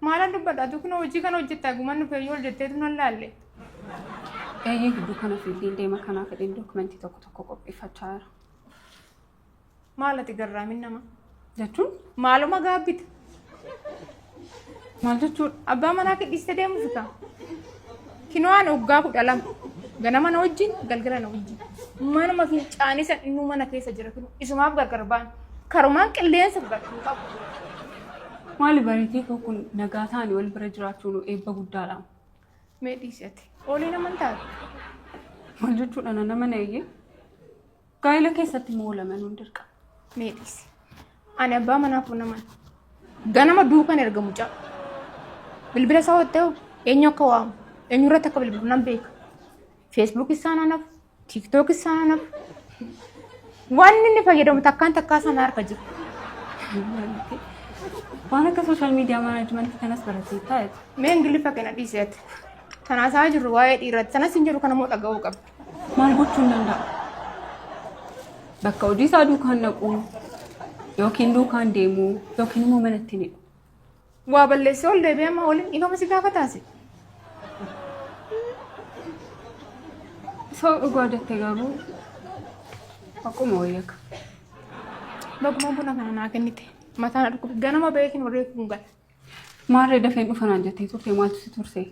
Maalan dubbadha atuu kunoo hojii kana hojjettaa guman dhufee yoo jetteetu nan laalle. Eeyyee gidduu kana fiildiin deema kanaa fedhiin dookumentii tokko tokko qopheeffachaa jira. Maal ati garraamin nama? Jechuun Maaluma gaabbita? maal jechuudha? Abbaa manaa kee dhiistee deemuuf kaa? Kino'aan waggaa kudha lama. Ganama na wajjin, galgala na wajjin. Manuma fincaanii san innuu mana keessa jira kinu. Isumaaf gargar ba'an. Karumaan qilleensa fudhachuu hin qabu. Maali bareetii koo kun nagaa ta'anii wal bira jiraachuun eebba guddaadha. Mee dhiisi ati. Ooliin amantaati. Maal jechuudha na nama na eeyyee? Gaa'ila keessatti immoo lamanuun dirqama. Mee dhiisi. Ani abbaa manaaf naman. Ganama duukan erga mucaa. Bilbila isaa waan ta'eef eenyu akka waamu, eenyu irratti akka bilbilu nan beeka. Feesbuuk isaa nan hafu, tiiktook isaa nan hafu. Waan inni fayyadamu takkaan takkaa sana harka jira. Waan akka sooshaal miidiyaa maanaajimenti kanas barateettaa jechuudha. Mee ingiliffa kana dhiiseeti. Tanaasaa jirru waa'ee dhiiraati. Tanas hin jiru kanammoo dhaga'uu qabdi. Maal gochuun danda'a? Bakka hojii isaa duukaan dhaquu yookiin duukaan deemuu yookiin immoo manatti ni dhufu. Waa balleessee ol deebi'ee amma waliin dhiifama si gaafataase. Soo dhugaa jette garuu akkuma wayya akka. Bagumaan buna kana naa kennite. Mataa na dhukkube. Ganama beekin warree kun gala. Maarree dafeen dhufanaan jettee turte maaltu si turse?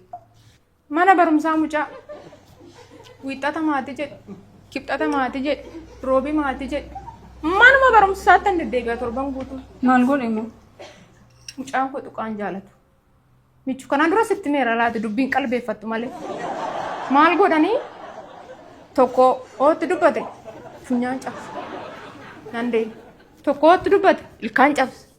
Mana barumsaa mucaa wiixxata maatii jedhe kibxata maatii jedhe roobii maatii jedhe manuma barumsaatti hin deddeebi'a torban guutuu Maal godhe immoo? mucaan koo tuqaan jaalatu. Michu kanaan dura sitti meera laata dubbiin qalbeeffattu malee. Maal godhanii tokko ootti dubbate funyaan cabse. Nandee tokko ootti dubbate ilkaan cabse.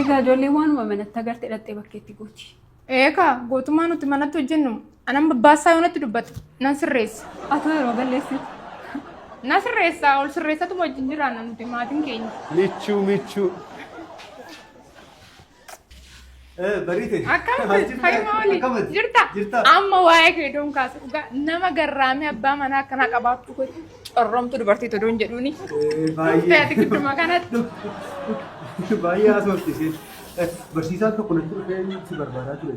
Egaa ijoollee waanuma manatti agarte dhaxxee bakkeetti gooti. Eekaa gootummaa nuti manatti hojjennu anan babbaasaa yoo natti dubbate nan sirreessa. Atoo yeroo balleessitu. Na sirreessa ol sirreessatu wajjin jiraanna nuti maatiin keenya. Michuu michuu. Bariite. Akkamitti fayyuma waliin Akkamitti? jirta? Jirta. Amma waa'ee kee doon kaase dhugaa nama garraamee abbaa manaa akkanaa qabaachuu koo corromtu dubartii todoon jedhuuni. Dhuftee Baay'ee. ati gidduma kanatti. Baay'ee haasofti isheen. Barsiisaan tokko natti dhufee si barbaadaa ture.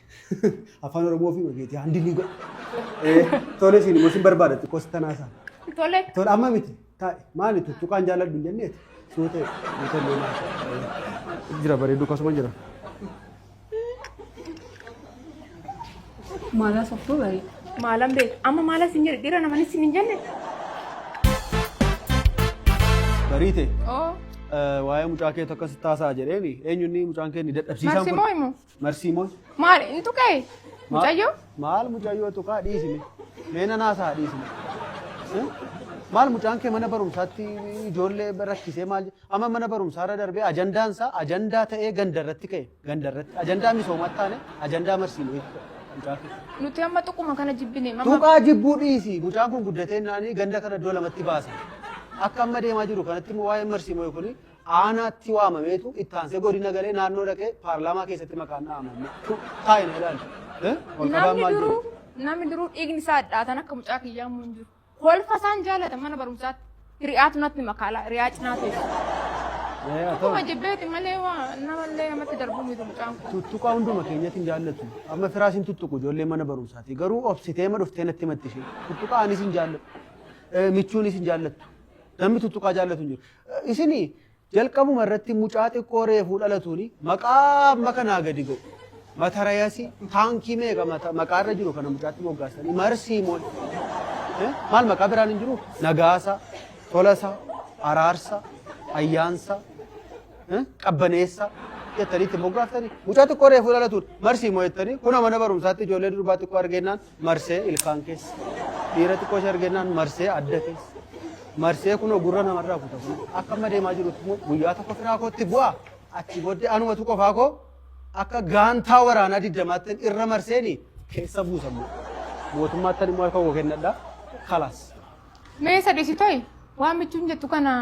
Afaan Oromoo fi ogeetii handilii godha. Eh, Tole isin immoo isin barbaada xiqqoo sittanaa isaa. Tole. Tole amma miti. Taa'e maali tuttuqaan jaalladhu hin jenneeti. Suuta suuta illee maal. Jira bareedu akkasuma jira. Maalaa softoo bareeda. Maalan beeku. Amma maala sin jedhe dhiira namani sin hin jenne. Bariite. Oo. eh, Waa'ee mucaa keetu akkasitti taasa'a jedheeni eenyunni mucaan kee ni dadhabsiisaan Maksimoo himu. Marsii moo? Maal hin tuqee? Mucayyoo? Maal mucayyoo tuqaa dhiisime. Mee nan haasa'a dhiisime. Eh? Maal mucaan kee mana barumsaatti ijoollee rakkisee maal je- amma mana barumsaarra darbee ajandaan isaa ajandaa ta'ee gandarratti ka'e gandarratti ajandaa misoomaa taane ajandaa marsii moo jechuudha mucaa kee. Nuti amma tuquma kana jibbine. Amma Tuqaa jibbuu dhiisi mucaan kun guddatee naanii ganda kana iddoo lamatti baasa. Akka amma deemaa jiru kanatti immoo waa'een marsii moo kun aanaatti waamameetu itti aansee godina galee naannoo dhaqee paarlaamaa keessatti maqaan dha'amame. Taa'ina ilaali. Ol qabaan Namni maal duruu jedhu? namni duruu dhiigni isaa hadhaatan akka mucaa kiyyaa immoo hin jiru. Kolfa isaan jaalatan mana barumsaatti hiriyaatu natti makaala hiriyaa cinaa teessu. Akkuma jibbeeti malee waa namallee namatti darbuu miti mucaan kun. Tuttuqaa hunduma keenyatti hin jaallatu. Amma firaas hin tuttuqu ijoollee mana barumsaati. Garuu obsitee ma dhuftee natti matti ishee. Tuttuqaa anis hin jaalladhu. Eh, Michuunis hin jaallattu. Namni tuttuqaa jaallatu hin jiru. Isini jalqabuma irratti mucaa xiqqoo reefuu dhalatuuni maqaa amma kanaa gadi godhu. Matarayasi taankii meeqa mata- maqaa irra jiru kana mucaatti moggaasanii marsii moo Eh, maal maqaa biraan hin jiru nagaasa tolasa araarsa ayyaansa eh, qabbaneessa jettanii itti moggaaftanii mucaa xiqqoo reefuu dhalatuun marsii moo jettanii kuna mana barumsaatti ijoollee durbaa xiqqoo argeennaan marsee ilkaan keessa dhiira xiqqoo ishee argennaan marsee adda keessa marsee kunoo gurra namarraa kuta kun akka amma deemaa jirutti immoo guyyaa tokko firaa kootti bu'a achi booddee anumatu qofaa koo akka gaantaa waraanaa diddamaatti irra marseeni keessa buusamu mootummaatti immoo harka koo kennadha kalaas. Mee isa dhisitoy waan michuun jettu kana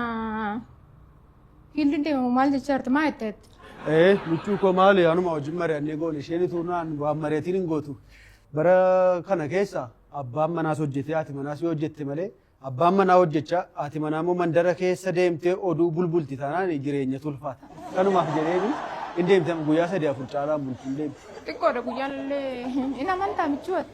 Fiildi deemu maal jechaa jirti maa jette jette. Ee michuu koo maali anuma wajjin mari'annee goone isheen utuu naan waan mari'atiin hin gootu. Bara kana keessa abbaan manaas hojjetee haati manaas yoo hojjette malee abbaan manaa hojjechaa haati manaa immoo mandara keessa deemtee oduu bulbulti taanaan jireenya tulfaata. Kanumaaf jedheeni hin deemte amma guyyaa sadii afur caalaa bulti hin deemte. Xiqqoodha guyyaan illee hin amantaa michuu ati.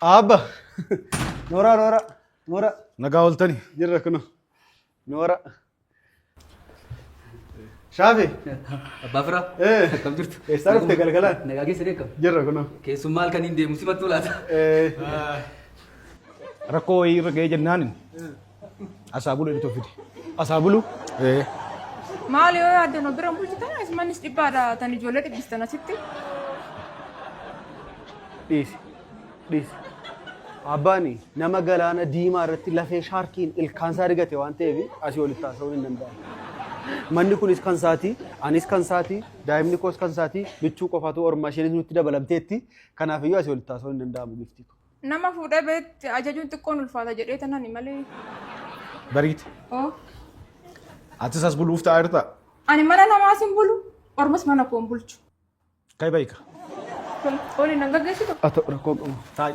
Abba! Nooraa, nooraa, nooraa. Nagaa ooltani. Jirra kuno. Nooraa. Shaafi! Abbaa firaa. Eh. Akkam jirtu? Eessaa dhufte galgalaan? Nagaa keessa deekkam. Jirra kuno. Keessummaa halkan hin deemu simattuu laata? Eh. Rakkoo wayii irra ga'ee jennaanin Asaa bulu itti fide. Asaa bulu. Eh. Maal yoo yaaddan of bira bulchitan asimanis dhibbaadha tan ijoollee dhibbistan asitti. Dhiisi. Dhiisi. Abbaani nama galaana diimaa irratti lafee shaarkiin ilkaan isaa rigate waan ta'eef asii olitti haasa'uun hin danda'amu. Manni kunis kan isaati, anis kan isaati, daa'imni koos kan isaati, michuu qofaatu ormaa isheenis nutti dabalamteetti. Kanaafiyyuu asii olitti haasa'uun hin danda'amu giftii koo. Nama fuudhee beetti ajajuun xiqqoon ulfaata jedhee tanani malee. Bariite. Oo. Atis as buluuf taa'aa jirtaa? Ani mana namaas hin bulu. Ormas mana koo hin bulchu. Kai baika. Oli nan gaggeessitu. Ata rakkoon qabu. Taa'i.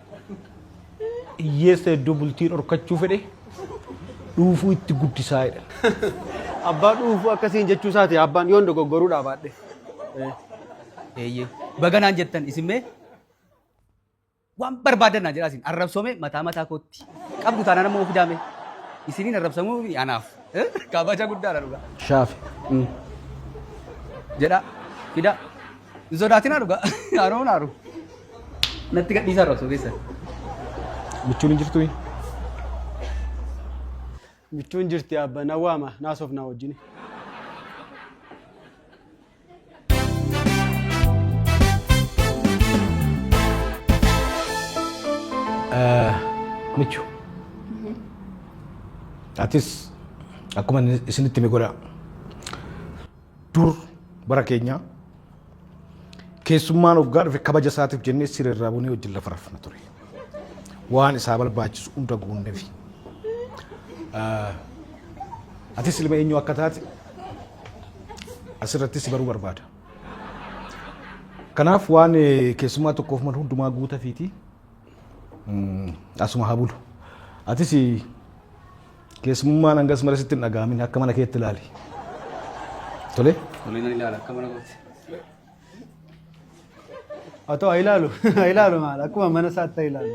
Hiyyeessa iddoo bultii dhorkachuu fedhe dhuufuu itti guddisaa jedha. Abbaa dhuufuu akkasiin jechuu isaati abbaan yoon dogoggoruu dhaabaadhe. Eeyyee. Baga naan jettan isin mee waan barbaadan naan jedhaa isin arrabsoome mataa mataa kootti qabdu taanaan ammoo fidaame isiniin arrabsamuu fi anaaf eh, kabaja guddaadha dhugaa. Shaafi. Jedhaa fidaa. Hin sodaatinaa dhugaa. Haroo hin haaru. Natti gadhiisaa irra osoo keessan. Michuun hin jirtu. Michuun jirti abba na waama naasoof naa wajjin. Michu. Atis akkuma isinitti mi godhaa. Dur bara keenyaa keessummaan hoggaa dhufe kabaja isaatiif jennee siree irraa bunee wajjin lafa rafna ture. Waan isaa barbaachisu hunda guunneef. Atis ilma eenyu akka taate asirratti si baruu barbaada. Kanaaf waan eh, keessummaa tokkoof malu hundumaa guutafiiti. Mm, Asuma haa bulu. Atis Keessumummaan hangas mara sitti hin dhaga'amin akka mana keetti ilaali. Tole? Tole nan ilaala akka mana kootti. Haa ta'u haa ilaalu haa ilaalu maal akkuma mana isaatti haa ilaalu.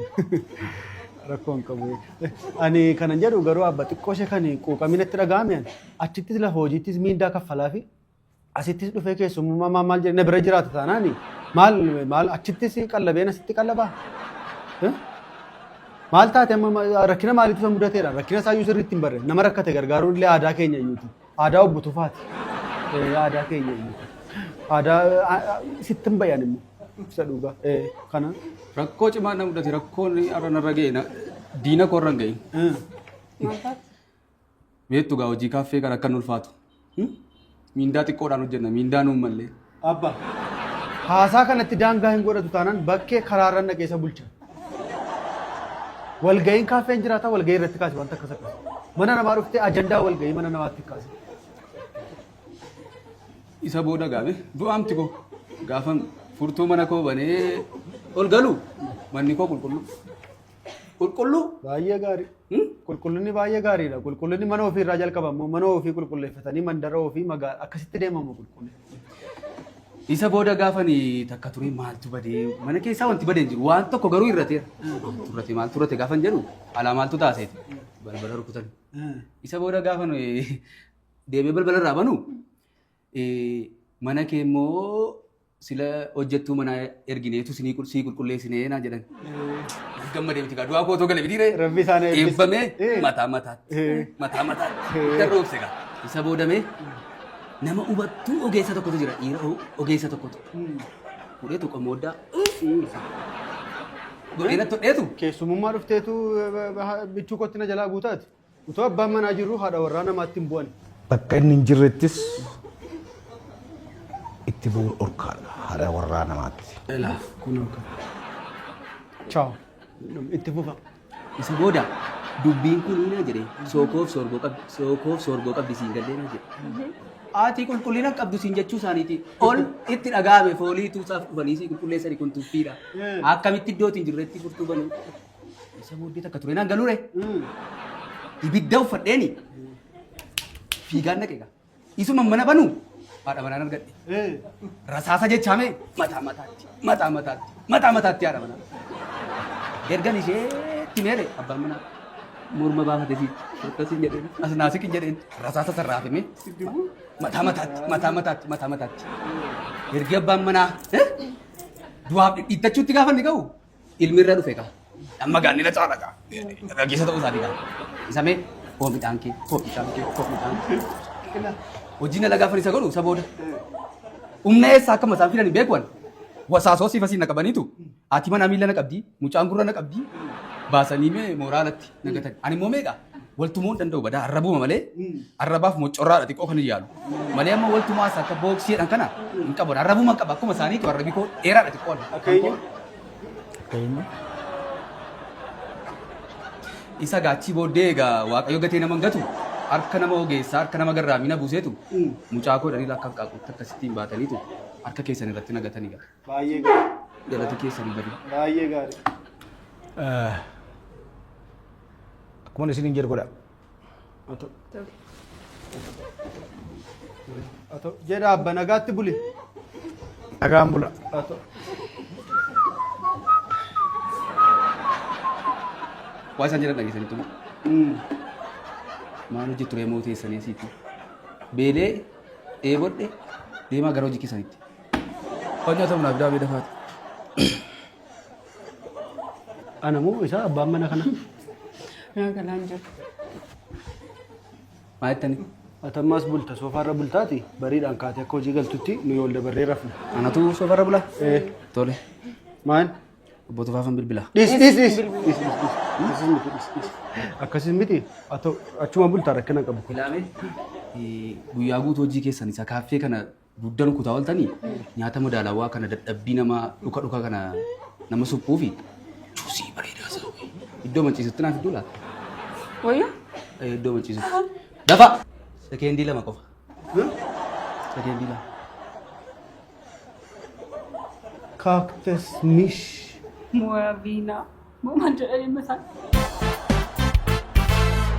Rakkoo hin qabu. Ani kanan jedhu garuu abba xiqqoo ishee kan quuqamina itti dhaga'ame achittis lafa hojiittis miindaa kaffalaa fi Asittis dhufee keessummaa maal maal jedhe na bira jiraata taanaan maal maal achittis qallabeen asitti qallabaa? Eh? Maal taate amma ma- rakkina maaliitu isa mudateedha? Rakkina isaa iyyuu sirriitti hin barre. Nama rakkate gargaaruun illee aadaa keenya iyyuuti. Aadaa obbo Tufaati. Eh, Aadaa keenya iyyuuti. Aadaa a- a- sitti hin bayan immoo. Isa dhugaa. Eh, Kana. Rakkoo cimaa na mudate rakkoon har'a narra ga'e na- diina koo irra hin ga'in. Eh. Maal taate? Beektu gaa hojii kaaffee kan akka hin ulfaatu. Hmm? Miindaa xiqqoodhaan hojjenna, miindaa nuun mallee. Abba, haasaa kanatti daangaa hin godhatu taanaan bakkee karaarran dhaqee isa bulcha. Walga'iin kaaffee hin jiraata, walga'ii irratti kaasi wanta akkas akkas. Mana namaa dhuftee ajandaa walga'ii mana namaatti kaasi. Isa booda gaame du'aamti koo gaafan furtuu mana koo banee ol galu manni koo qulqulluu. Qulqulluu? Baay'ee gaarii. Hmm? Qulqullinni baay'ee gaariidha. Qulqullinni mana ofii irraa jalqaba immoo mana ofii qulqulleeffatanii mandara ofii magaala akkasitti deemamu qulqulli. Isa booda gaafani takka ture maaltu badee mana keessaa wanti badee hin jiru waan tokko garuu irrateera. Turrate maal turrate gaafan jedhu alaa maaltu taaseeti balbala rukutan. Isa booda gaafan deemee balbala irraa banu mana kee immoo sila hojjettuu manaa ergineetu sinii qul- sii qulqulleessinee naa jedhan. Gammadee miti kaa du'aa kootoo gale miti ree. Rabbi isaan eebbise. Eebbamee Eh. mataa mataatti. Eh. Mataa mataatti. Eh. Kan roobse kaa. Isa boodamee nama hubattuu ogeessa tokkotu jira dhiira o- ogeessa tokkotu. Fudhee tokko mooddaa. Godhee natti hodheetu. Keessumummaa dhufteetu eh, ba- ba- bichuu kootti na jalaa guutaati. Utuu abbaan manaa jirru haadha warraa namaatti hin bu'an. Bakka inni hin jirrettis itti bu'uun dhorkaadha haadha warraa namaatti. Ilaaf kunoo kan. Chaaw. Itti fufa. Isa booda dubbiin kun ina jedhe sookoof soorgoo qabdi sookoof soorgoo qabdi siin gallee na jedhe. Aatii qulqullina qabdu siin jechuu isaaniiti ol itti dhaga'ame foolii tuusaaf dhufanii sii qulqulleessani kun tuffiidha. Akkamitti iddootiin jirretti furtuu banuu. Isa booddee takka tureenaan galure. Ibidda uffadheeni. Fiigaan dhaqe egaa. Isuma mana banu haadha manaan argadhe. Rasaasa jechaame mataa mataatti mataa mataatti mataa mataatti haadha manaa. Ergan isheetti meere abbaan manaa morma baafate fi akkasiin jedheen as naasikin jedheen rasaasa sarraa hafime mataa mataatti mataa mataatti mataa mataatti. Ergi abbaan manaa eh, du'aaf dhidhiittachuutti gaafa inni ga'u ilmi irra dhufe kaa. Amma gaa nila caala gaa. Gaggeessa ta'uu isaati gaa. Isa mee koo midhaan kee koo midhaan kee koo midhaan kee. Hojiin ala gaafa isa godhu isa booda. Humna eessaa akkuma isaan fidan hin beeku ani. Wasaasoo siif asiin na qabaniitu. Ati mana miila na qabdi mucaan gurra na qabdi. Baasanii mee mooraa alatti na gatan. Ani immoo meeqa? Waltumoo hin danda'u badaa arrabuma malee arrabaaf moccorraadha xiqqoo kan hin yaalu. Malee amma waltumaa isa akka booksii jedhan kana hin qabu. Arrabuma qaba akkuma isaaniitu arrabi koo dheeraadha xiqqoo. Akka eenyu? Akka eenyu? Isa gaachii booddee egaa waaqayyo gatee nama hin gatu harka nama ogeessaa harka nama garraamina buuseetu mucaa koo dhaliila akka qaaqquutti akkasittiin baataniitu harka keessan irratti nagatanii gala. Baay'ee gaarii. Galata keessan bari. Baay'ee gaarii. Akkuma isin hin jedhu godha. Jedha abba nagaatti buli. Nagaan bula. Waa isaan jedhan dhageessanii tuma. Maal hojii turee moo teessanii asiitti? Beelee dheebodhe deemaa gara hojii keessanitti. Hojjata munaaf daabee dafaati. Ana moo isaa abbaan mana kana? Naa galaan jiru. Maa jettanii? Atammaas bulta soofaarra bultaati bariidhaan kaatee akka hojii galtutti nu yool dabarree rafna. Anatu soofarra bulaa? Ee. Tole. Maal? Obbo Tufaafan bilbila. Dhis dhis dhis. Dhis dhis dhis. Akkasiin miti dhis dhis. Akkasiin miti Ato- achuma bultaa rakkina qabu. Ilaamee guyyaa guutuu hojii keessan isa kaaffee kana Dugdan kutaa oltanii nyaata madaalawaa kana dadhabbii nama dhuka dhuka kana nama suphuufi juusii bareedaa isaa wayii. iddoo manciisutti naaf iddoo laata? Wayyaa? Eh, Iddoo manciisutti. Dafa! Sekeendii lama qofa. Sekeendii lama. Cactus niche. Moyaa viinaa. Moomaan jedhanii mataa.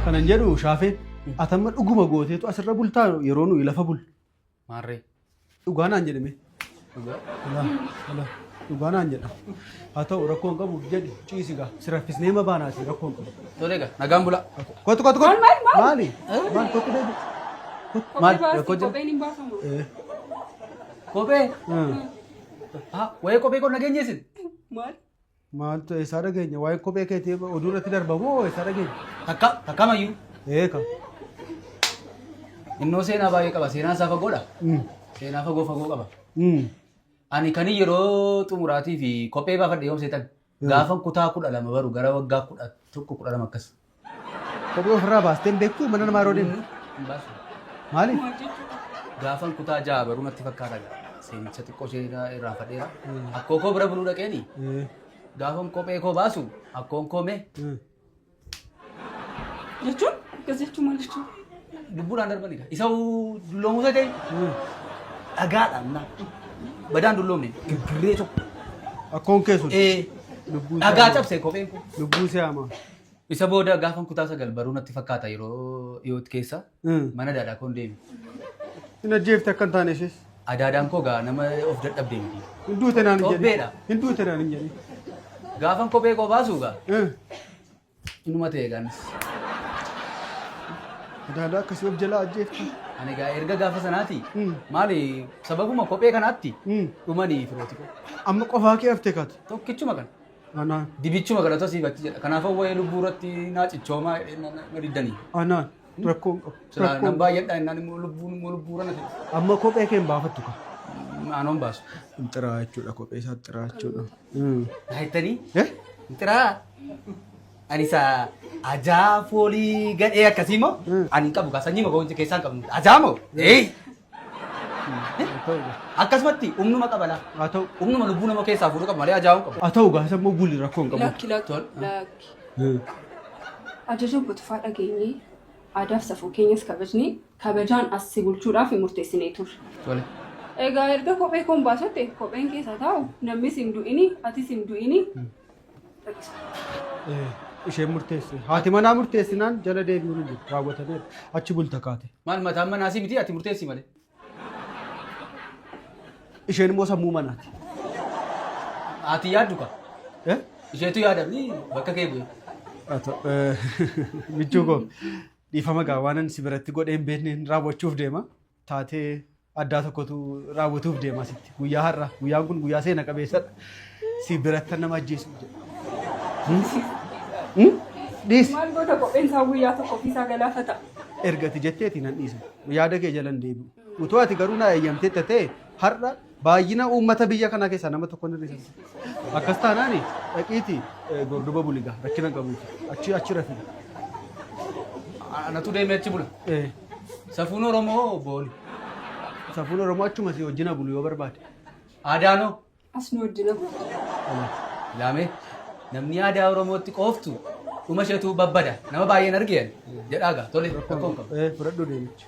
Kanan jedhu shaafee atamma dhuguma gooteetu asirra bultaa yeroo nuyi lafa bulu. Maarree. Dhugaa naan jedhime. Dhugaa naan jedha. Haa ta'u rakkoo hin qabu jedhi ciisi gaa. Si raffisnee ma baanaati rakkoo hin qabu. Tolee gaa nagaan bulaa. Kottu kottu kottu. Maal maal maali? Maal kottu deebi. Maal rakkoo jedhu. Kopheen hin baafamu. Kophee. Haa wayii kophee koo nageenyeessin. Maal? Maaltu eessaa dhageenya? Waa'ee kophee keetii oduu irratti darba moo eessaa dhageenya? Takka takkamayyuu Eeka. innoo seenaa baay'ee qaba. Seenaan isaa fagoodha. Mm. Seenaa fagoo fagoo qaba. Mm. Ani kan yeroo xumuraatii fi kophee baafadhe yoom seetan? Gaafan kutaa kudha lama baru gara waggaa kudha tokko kudha lama akkas. Kophee ofirraa baastee hin beektu mana namaa yeroo deemtu. Maali? Gaafan kutaa ja'a baruu natti fakkaata gaa. Seenicha xiqqoo ishee irraa fadheera. Akkoo koo bira buluu dhaqeeni. Gaafan kophee koo baasu akkoon koo mee Jechuun akkas jechuun maal jechuun? lubbuudhaan darbanidha. Isa dulloomuu isa ta'e dhagaadhaan na badaan dulloomne gibbirree tokko. Akkoon kee sun. Ee Lubbuu isaa dhagaa hamaa. cabse kopheen koo. Lubbuu isaa hamaa. Isa booda gaafan kutaa sagal baruu natti fakkaata yeroo dhiyootti keessa Mm. mana daadaa koon deeme. Hin ajjeefte akka hin taane ishees. Adaadaan koo gaa nama of dadhabde miti. Hin duute naan hin Xobbeedha. jedhin. Hin duute naan hin jedhin. Gaafan kophee koo baasuu gaa Eh, inuma ta'e gaanis. Adaadaa akkasii of jalaa ajjeefte. Ani gaa erga gaafa sanaati Mm. maali sababuma kophee kanaatti Mm. dhumanii firooti koo. Amma qofaa kee haftee kaate. Tokkichuma kana. Anaa. Dibichuma kadhata siif achi jedha. Kanaafuu waa'ee lubbuu irratti naa cichoomaa jedhee na- na- na diddanii. Anaa. Rakkoon qabu. Silaa nan Rakkoon baay'adhaa innaan immoo lubbuun immoo lubbuura na ta'e. Amma kophee kee hin baafattu ka. Aanoon baasu. Hin xiraa jechuudha kophee isaa xiraa jechuudha. Mm. Naa jettanii? Eh? Xiraa. Ani isa ajaa foolii gadhee akkasii moo? Ani hin qabu kaa sanyii moo keessaa hin qabnu. Ajaa moo? Ee! Akkasumatti humnuma qaba laa. Haa ta'u. Humnuma lubbuu nama keessaa fuudhu qaba malee ajaa'uu qaba. Haa ta'u gaa isa immoo gulli rakkoo hin qabu. Lakki lakki Tol. lakki. Hmm. Ajaja butufaa dhageenyee aadaaf safuu keenyas kabajnee kabajaan as si bulchuudhaaf murteessinee turre. Tole. Egaa erga kophee koon baasotte kopheen keessa taa'u namnis hin du'ini atis hin du'ini isheen murteessu. Haati manaa murteessinaan jala deebi'uun hin jiru. Raawwatameera. Achi bulta kaate. Maal mataan manaa si miti ati murteessi malee. Isheen immoo sammuu manaati. Ati yaaddu ka. Eh? Isheetu yaada mi bakka kee bu'e. Haa ta'u, eh, Michuu koo dhiifama gaa waanan si biratti godhee hin beekne raawwachuuf deema. taatee addaa tokkotu raawwatuuf deema asitti. Guyyaa har'a guyyaan kun guyyaa seena qabeessadha. Si birattan nama ajjeesu jedha. Dhiisi. Maal goota kopheen isaa guyyaa tokko ofiisaa galaafata. Ergati jetteeti nan dhiisa. Yaada kee jalan deebi'u. Utuu ati garuu na eeyyamtee tatee har'a Baay'ina uummata biyya kanaa keessaa nama tokko hin hir'isan. Akkas taanaan dhaqiiti gorduba buliga rakkina qabu achi achi rafi. Anatu deemee achi bula. Eh, Safuun Oromoo booni. Safuun Oromoo achuma si wajjina bulu yoo barbaade. Aadaanoo. As nu wajjina. Laamee namni aadaa Oromootti qooftu dhuma isheetu babbada. Nama baay'een argeen jedhaaga. Tole rakkoon qabu. Eh, fudhadhu deemicha.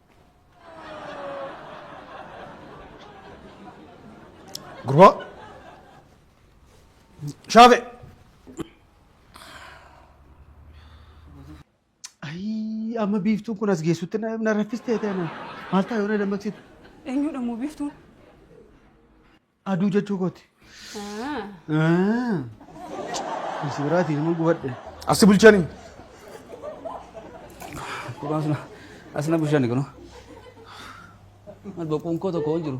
Gurbaa. Shaafe. Ayii amma biiftuun kun as geessutti na na raffistee ta'e na. Maal ta'a yoo na dammaqsitu? Eenyudha moo biiftuun? Aduu jechuu kooti. Asi biraatiin nama gubadhe. Asi bulchanii. Kuraan suna asina bulchanii kunu. Mal boquun koo tokko hin jiru.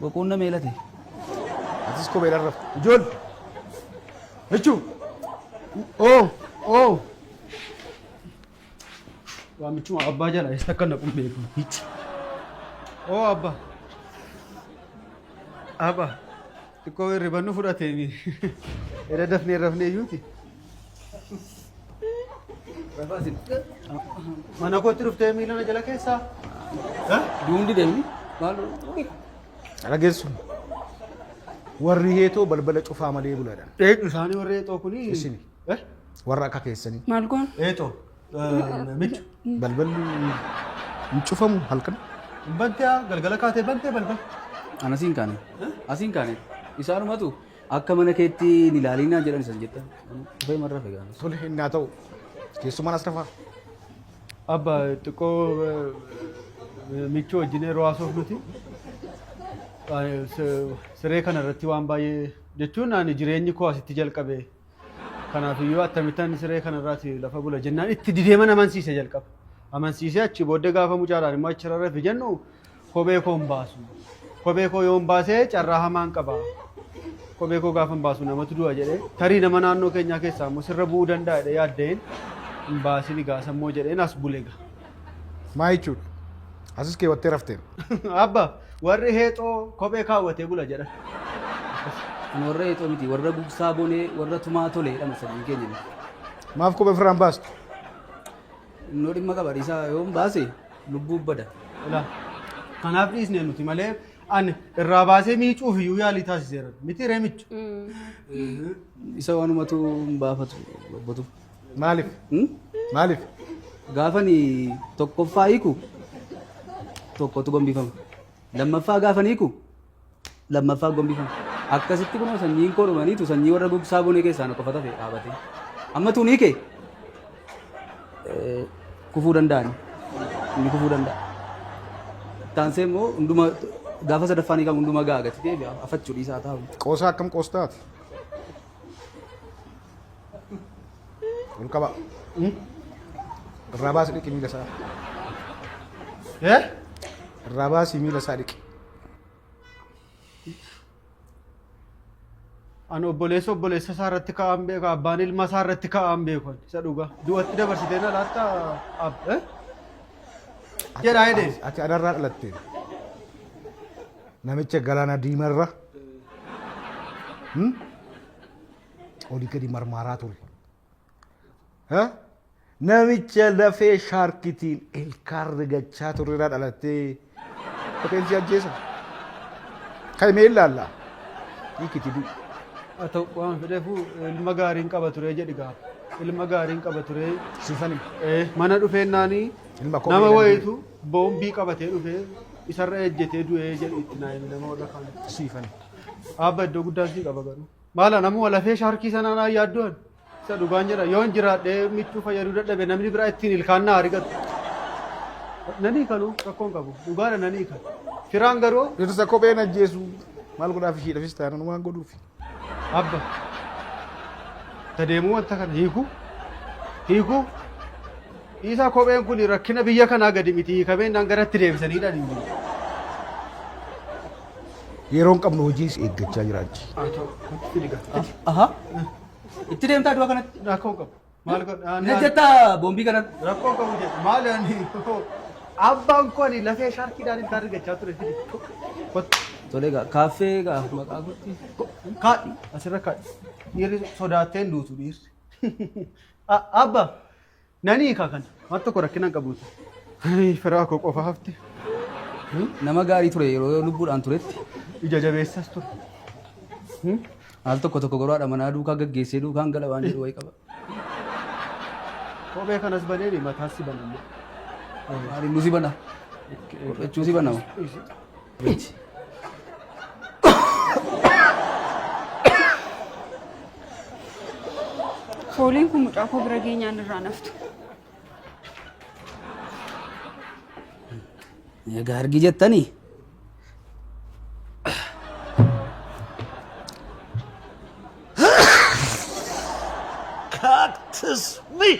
Boquun na meelate. Atis kophee dharraf. Ijool. Jechuu. Oo. Oo. Waamichuma abbaa jala eessa akka naqu hin beeku. Hichi. Oo abba. Abba. Xiqqoo hirriban nu fudhatee mi. Era dafnee rafnee iyyuuti. Rafaasin. Mana kootti dhuftee miila na jala keessaa. Duundi deemi. Maal Dhageessu. Warri heetoo balbala cufaa malee buladha. dheedhu isaanii warri eexoo kuni. Isini. Eh? Warra akka keessanii. Maal goon? Eeto. Michu. Balballi hin cufamu halkan. Bantee galgala kaatee bantee balbala. An asiin kaane. Asiin kaane. Isaanumatu akka mana keetti hin ilaalinaa jedhan isan jettan. Dhufee marra fegaan. Tole hin naa ta'u. Keessumaan as rafaa. Abba xiqqoo michuu wajjin yeroo haasoof nuti siree kana irratti waan baay'ee jechuun ani jireenyi koo asitti jalqabe Kanaafiyyuu attamittan siree kanarraati lafa bula jennaan itti dideeman amansiise jalqaba. Amansiisee achi booddee gaafa mucaadhaan immoo achi rarrafi jennu kophee koo hin baasu. Kophee koo yoon baasee carraa hamaan qaba. Kophee koo gaafa hin baasu namatu du'a jedhee tarii nama naannoo keenyaa keessaa immoo sirra bu'uu danda'a jedhee yaaddeen hin baasin egaa sammoo jedheen as bule egaa. Maa jechuudha? Asis keewwattee rafteem. Abba warri heexoo kophee kaawwatee bula jedhan. Kun warra heexoo miti warra gugsaa bonee warra tumaa tolee jedhama sanyii keenya miti. Maaf kophee ofirraa hin baastu? Innoo dhimma qaba dhiisaa yoo hin baase lubbuu bada. Ilaa kanaaf dhiisne nuti malee ani irraa baasee miicuuf iyyuu yaalii taasiseera miti reemicha. Isa waanumatu hin baafatu bobbatu. Maalif? Maalif? Gaafani tokkoffaa hiiku tokkotu gombifama. Lammaffaa gaafani hiiku lammaffaa gombifama. Akkasitti kunoo sanyiin koo dhumaniitu sanyii warra gugsaa bonee keessaa na qofa tafe dhaabate. Amma tuun hiike eh, kufuu danda'ani. Inni kufuu danda'a. Taansee immoo hunduma gaafa sadaffaan hiikamu hunduma ga'a gati deebi'a afachuu dhiisaa taa'u. Qoosaa akkam qoostaati? Ol qaba. Irraa baasi dhiqi miila isaa. Eh? Irraa baasi miila isaa dhiqi. Ani obboleessa obboleessa isaa irratti ka'aan beeku abbaan ilma isaa irratti ka'aan beeku isa dhugaa. Du'atti dabarsitee na laatta ab. eh? Jedhaa jedhee. Ati adarraa dhalattee. Namicha galaana diimarra. Hmm? oli gadi marmaaraa ture. Ha? Namicha lafee shaarkitiin ilkaan rigachaa turreerraa dhalattee koteen si ajjeesa. Kan himee ilaalla. Hiikiti du'i. Haa ta'u waan fedheefuu ilma gaariin qaba ture jedhi gaa. Ilma gaariin qaba ture. Siifani. Eh, Mana dhufeennaanii Ilma koo nama miidhan wayitu boombii qabatee dhufee isarra ejjetee du'ee jedhi itti naa himi nama warra kaan. Siifani. Abba iddoo guddaa sii qaba garuu. Maala namuu lafee shaarkii sanaa naa yaaddoon isa dhugaan jedha yoon jiraadhee michuu fayyaduu dadhabe namni biraa ittiin ilkaan naa argatu. Nanii kanuu rakkoon qabu dhugaadha nanii kan. Firaan garuu Dhirsa kopheen ajjeesu maal godhaaf ishiidhafis taanaan waan godhuufi. abba tadeemuu wanta kana hiikuu hiikuu dhiisaa kopheen kun rakkina biyya kanaa gadi miti hiikamee naan garatti deebisaniidhaan hin jiru. yeroo hin qabnu hojii si eeggachaa jiraatti. Aha. Itti deemtaa du'a kanatti. Rakkoo qabu. Maal godha? Ani- Na jettaa boombii kanatti. Rakkoo qabu jedhu. Maal ani abbaan koo ani lafee shaarkiidhaan ilkaan argachaa ture. Kottu. Tolee gaa kaaffee gaa maqaa gootti. Kaadhi asirra kaadhi. Dhiirri sodaattee hin duutu dhiirri. A- Abba Nani hiika kana. Waan tokko rakkina hin qabu. Ay, firaa koo qofa hafte. Nama gaarii ture yeroo lubbuudhaan turetti. Ija jabeessas ture. Al tokko tokko garuu haadha manaa duukaa gaggeessee duukaan gala waan jedhu wayii qaba. Kophee kanas baneeni mataas si banamne. Maali nu si bana? Kophechuun si bana. miti. Fooliin kun mucaa koo bira geenyaan irraa naftu. Egaa argi jettanii? Cactus me!